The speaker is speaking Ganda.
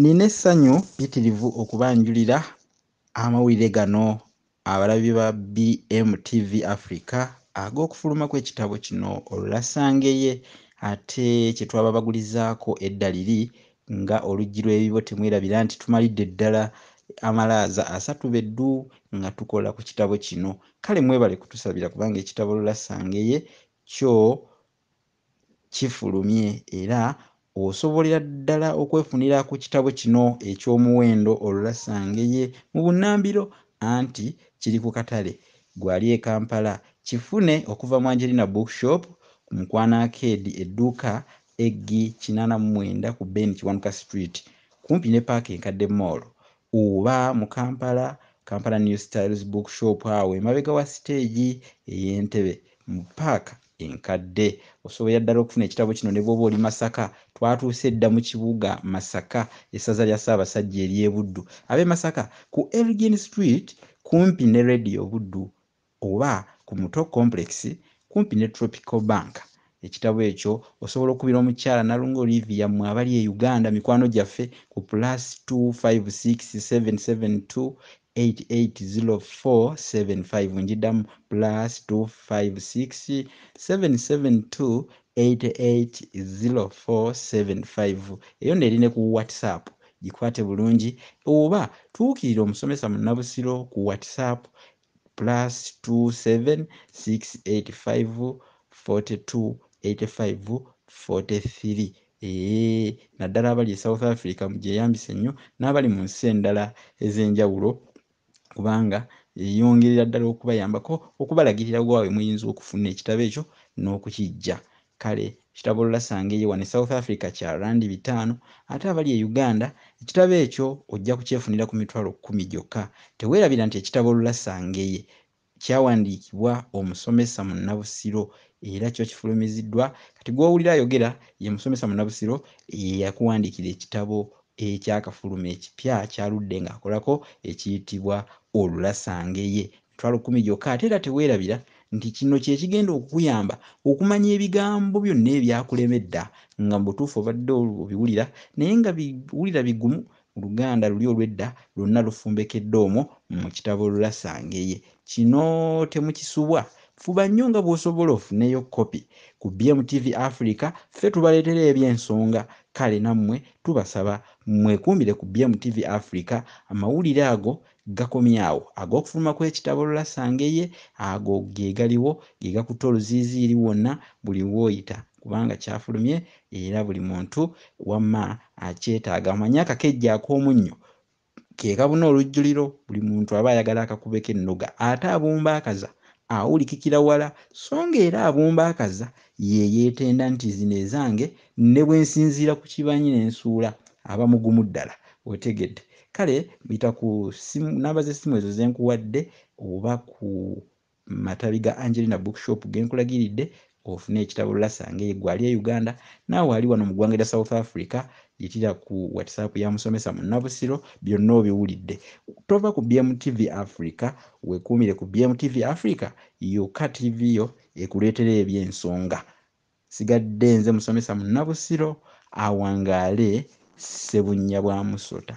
Nina essanyu pitirivu okubanjulira amawulire gano abalabi ba BMTV Africa ag'okufuluma kw'ekitabo kino olulasangeye ate kye twababagulizaako edda liri nga oluggi lw'ebibo temwerabira nti tumalidde ddala amalaaza asatu be ddu nga tukola ku kitabo kino kale mwebale kutusabira kubanga ekitabo lulasangeye kyo kifulumye era osobolera ddala okwefunira ku kitabo kino eky'omuwendo Olulassange ye mu bunnambiro anti kiri ku katale Gwali e Kampala. Kifune okuva mu Angelina Book Shop, ku Mukwano Arcade, edduuka Eggi kinaana mu mwenda ku Ben Kiwanuka Street kumpi ne Paaka Enkadde Mall Oba mu Kampala, Kampala New Styles Book Shop awo emabega wa siteegi ey'e Ntebe mu ppaaka enkadde. Osoboya ddala okufuna ekitabo kino ne bw'oba oli Masaka. Twatuuse dda mu kibuga Masaka, essaza lya Ssaabasajja ery'e Buddu. Ab'e Masaka, ku Elgin Street kumpi ne leediyo Buddu oba ku Muto Complex kumpi ne Tropical Bank. Ekitabo ekyo osobola okukubira omukyala Nalunga Olivia mmwe abali e Uganda mikwano gyaffe ku plus two five six seven seven two eight eight zero four seven five. Ngiddamu plus two five six seven seven two eight eight zero four seven five. Eyo nno eri ne ku WhatsApp. Gikwate bulungi oba tuukirira omusomesa Munnabusiro ku WhatsApp plus 27685428543 eeh naddala abali e south africa mugyeyambise nnyo n'abali mu nsi endala ez'enjawulo kubanga eyongerera ddala okubayambako okubalagirira waabwe muyinza okufuna ekitabo ekyo n'okukijja Kale ekitabo Olasanga eyo wano e South Africa kya Rand bitaano ate abali e Uganda ekitabo ekyo ojja kukyefunira ku mitwalo kkumi gyokka. Teweerabira nti ekitabo Olasanga eye kyawandiikibwa omusomesa munnabusiro era kyo kifulumiziddwa kati gw'owulira ayogera ye musomesa munnabusiro eyakuwandiikira ekitabo ekyakafuluma ekipya ky'aludde ng'akolako ekiyitibwa Olasanga eye Emitwalo kkumi gyokka. Ate era teweerabira nti kino kye kigenda okukuyamba okumanya ebigambo byonna ebyakulemedda nga mu butuufu obadde obiwulira naye nga biwulira bigumu mu Luganda luli olw'edda lwonna lufumbekedde omwo mu kitabo Lulasangeye. Kino temukisubwa. Fuba nnyo nga bw'osobola ofuneyo kkopi. Ku BMTV Africa ffe tubaleetera eby'ensonga kale nammwe tubasaba mwekuumire ku BMTV Africa amawulire ago Gakomye awo. Ag'okufuluma kw'ekitabo Olasanga eye, ago ge galiwo, ge gakutte oluziiziiri wonna buli w'oyita, kubanga kyafulumye era buli muntu wamma akyetaaga. Omanyi akakejje ak'omunnyo? Ke kabuna olujjuliro, buli muntu aba ayagala akakubeko ennoga. Ate abumba akaza awulikikira wala, so ng'era abumba akaza ye yeetenda nti zino ezange, ne bwe nsinziira ku kibanyi ne nsuula, aba mugumu ddala. Otegedde? Kale yita ku simu namba z'essimu ezo ze nkuwadde oba ku matabi ga Angelina Bookshop ge nkulagiridde ofune ekitabo Lasa ng'eyo gwe ali e Uganda naawe ali wano mu ggwanga erya South Africa yitira ku WhatsApp ya musomesa Munnabusiro byonna obiwulidde. Tova ku BMTV Africa, weekuumire ku BMTV Africa yokka ttiivi yo ekuleetera eby'ensonga. Nsigadde nze musomesa Munnabusiro awangaale Ssebunnya bwa musota.